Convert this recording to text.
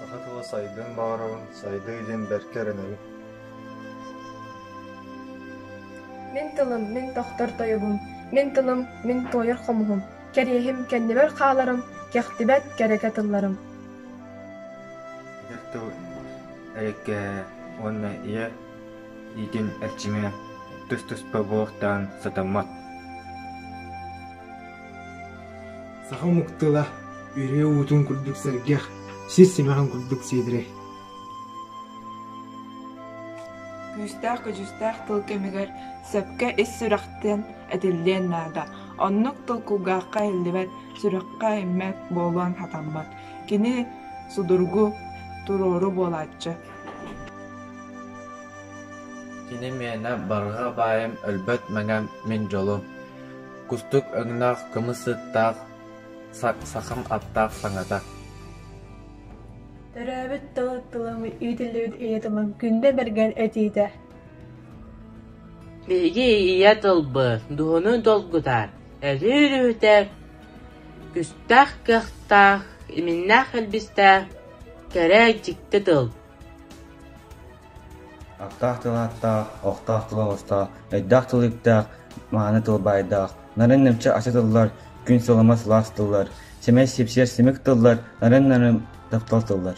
Саха тыла сайдыан баҕарабын, сайдыы диэн бэркэ эрэнэбин Мин тылым, мин тохтор тойугум, мин тылым, мин туойар хомуһум, кэриэһим, кэннибэр хааларым, кэхтибэт кэрэкэ тылларым Эдэр тыл эриккэһэ уонна ийэ иитин эрчимэ түс-түспэ буортаан сатаммат Саха омук тыла, үрүө уутун курдук сэргэх, сис симэҕин курдук сиэдирэй. Күүстээх-көдьүүстээх тыл кэмигэр сөпкө ис сүрэхтэн этиллиэн наада. Оннук тыл кулгаахха иһиллибэт, сүрэххэ иһиммэт буолуон хатаммат. Кини судургу, туруору буолааччы. Кини миэнэ барҕа баайым өлбөт мэҥэм мин дьолум кустук өҥнөөх кымыс ыттаах сахам аттаах саҥата Төрөөбүт тыл тылымы иитиллибит ийэ тылым күндэ бэргэн этиитэ Биһиги ийэ тылбы дуһуну долгутар өлүү үлүһүтэр күстээх кыахтаах иминнээх элбистээх кэрэ дьикти тыл Аттаах тыл ааттаах, охтоох тыл оҕустоох, өйдөөх тыл үптээх, мааны тыл баайдаах, нарын нэмчи ача тыллар, күн сылыма сылаас тыллар, сэмэй сипсиэр симик тыллар, нарын нарын таптал тыллар